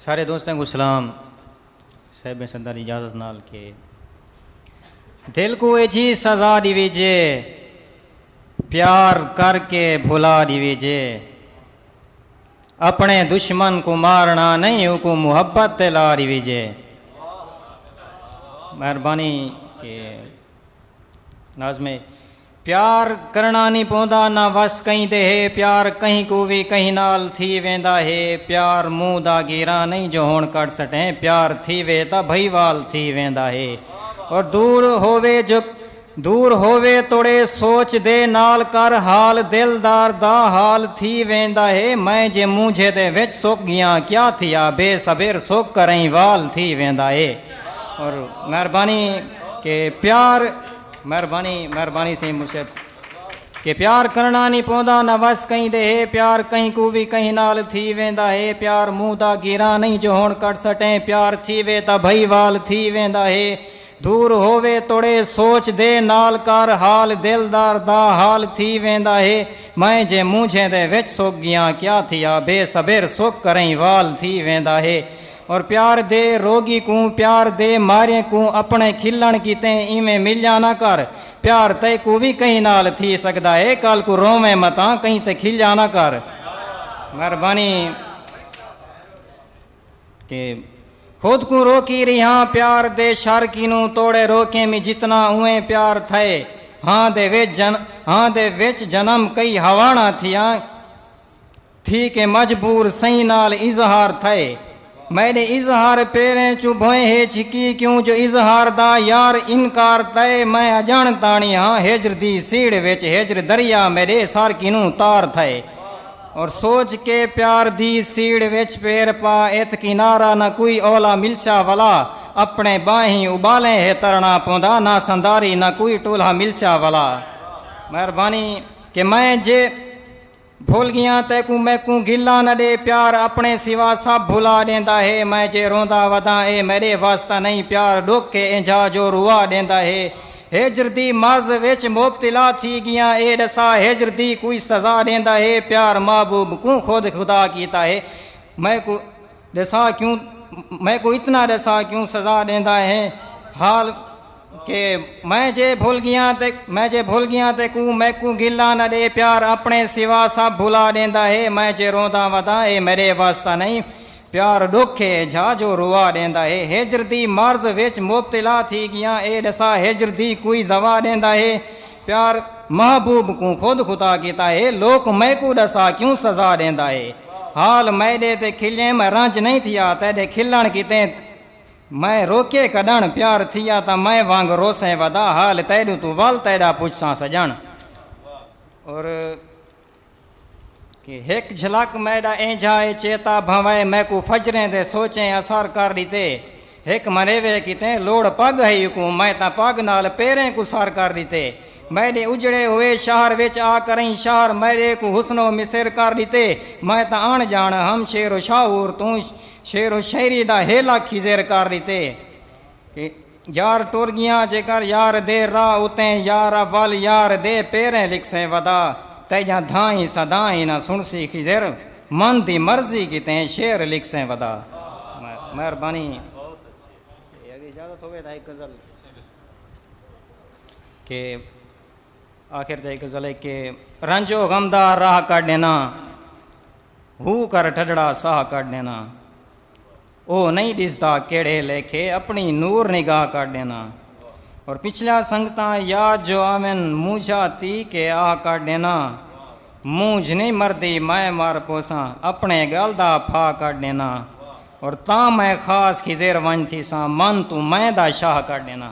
سارے دوستاں کوں سلام۔ صاحب صدر اجازت نال کہ دل کوں ایجھی سزا ڈیویجے پیار کر کے بھلا ڈیویجے اپنے دشمن کوں مارنا نہیں اوکوں محبت تے لا ڈیویجے مہربانی کہ ناظم پیار کرݨا نی پوندا نہ وس کہیں دے ہے پیار کہیں کوں وی کہیں نال تھی ویندا ہے پیار منہ دا گیراں نئیں جو ہݨ کر سٹیں پیار تھیوے تاں بھئی وال تھی ویندا ہے اور دور ہووے جو دور ہووے توڑے سوچ دے نال کر حال دل دار دا حال تھی ویندا ہے میں جے مونجھے دے وچ سک ڳیاں کیا تھیا بے صبر سک کرئیں وال تھی ویندا ہے اور مہربانی کہ پیار مہربانی مہربانی سئیں مرشد کہ پیار کرنا نہیں پوندا نہ وس کہیں دے ہے پیار کہیں کو بھی کہیں نال تھی ویندا ہے پیار منہ دا گیراں نہیں جو ہن کٹ سٹیں پیار تھی وے تا بھائی وال تھی ویندا ہے دور ہووے توڑے سوچ دے نال کر حال دل دار دا حال تھی ویندا ہے میں جے مونجھیں دے وچ سک گیاں کیا تھیا بے صبر سک کریں وال تھی ویندا ہے اور پیار دے روگی کوں پیار دے ماریں کوں اپنڑے کھلنڑ کیتے ایویں ملیاں نہ کر پیار تیکوں وی کہیں نال تھی سگدا ہے کل کوں روویں متاں کہیں تے کھلیاں نہ کر مہربانی کہ خود کوں روکی ریہاں پیار دے شر کینوں توڑے روکیں می جتنا اویں پیار تھئے ہاں دے وچ جن ہاں دے وچ جنم کئی ہاوانڑاں تھیاں تھی کہ مجبور سئیں نال اظہار تھئے میݙے اظہار پیریں چوں بھوئیں ہے چھکی کیوں جو اظہار دا یار انکار تئے میں اڄݨ تاݨی ہاں ہجر دی سیڑھ وچ ہجر دریا میݙے سر کنوں تار تھئے اور سوچ کے پیار دی سیڑھ وچ پیر پا ایتھ کنارہ نہ کوئی اولا ملسیا ولا اپݨے ٻانہیں اٻالیں ہے ترݨا پوندا نہ سنداری نہ کوئی ٹولھا ملسیا ولا مہربانی کہ میں جے بھل گیاں تیکوں میکوں گھلاں نہ ݙے پیار اپݨے سوا سب بھلا ݙیندا ہے میں جے روندا وداں اے میݙے وس تاں نہیں پیار ݙکھ اے اینجھا جو روا ݙیندا ہے ہجر دی مرض وچ مبتلا تھی گیاں اے ݙسا ہجر دی کوئی سزا ݙیندا ہے پیار محبوب کوں خود خدا کیتا ہے میکوں ݙسا کیوں میکوں اتنا ݙسا کیوں سزا ݙیندا ہیں حال کہ میں جے بھل گیاں تے میں جے بھل گیاں تے کوں میکوں گلا نہ ݙے پیار اپنے سوا سب بھلا ݙیندا ہے میں جے روندا وداں اے میݙے وس تاں نہیں پیار ݙکھ اے جھا جو روا ݙیندا ہے ہجر دی مرض وچ مبتلا تھی گیاں اے ݙسا ہجر دی کوئی دوا ݙیندا ہے پیار محبوب کوں خود خطا کیتا ہے لوک میکوں ڈسا کیوں سزا ڈیندا ہے حال میڈے تے کھلیں میں رنج نہیں تھیا تیڈے کھلن کیتے میں روکے کڈن پیار تھیا تاں میں وانگ روسیں ودا حال تیڈوں توں ول تیڈا پچھساں سجن اور کہ ہک جھلک میݙا اینجھا اے چیتا بھنوائے میکوں فجریں دے سوچیں اسر کر ݙتے ہک منیوے کیتے لوڑ پڳ ہئی اکوں میں تاں پڳ نال پیریں کوں سر کر ݙتے میݙے اجڑے ہوئے شہر وچ آ کرئیں شہر میݙے کوں حسن و مصر کر ݙتے میں تاں اݨ ڄاݨ ہم شعر و شاہور توں شعر و شاعری دا ہیلا خضر کر ݙتے کہ یار ٹر گیاں جیکر یار دے راہ اتیں یار اول یار دے پیریں لکھسے ودا تیجاں دھائیں صدائیں نہ سنسی خضر من دی مرضی کیتیں شعر لکھسے ودا مہربانی تے اگر اجازت ہووے تاں ہک غزل کہ آخر تے ہک غزل ہے کہ رنج و غم دا راہ کڈ ڈینا ہو کر ٹھڈڑا ساہ کڈ ڈینا او نئیں ڈسدا کیڑھے لیکھے اپنڑی نور نگاہ کر ڈینداں اور پچھلیاں سنگتاں یاد جو آون مونجھا تی کے آ کر ڈینداں مونجھ نئیں مردی میں مر پوساں اپنڑے گل دا پھا کر ڈینداں اور تاں میں خاص خضر ونج تھیساں من توں میں دا شاہ کر ڈینداں۔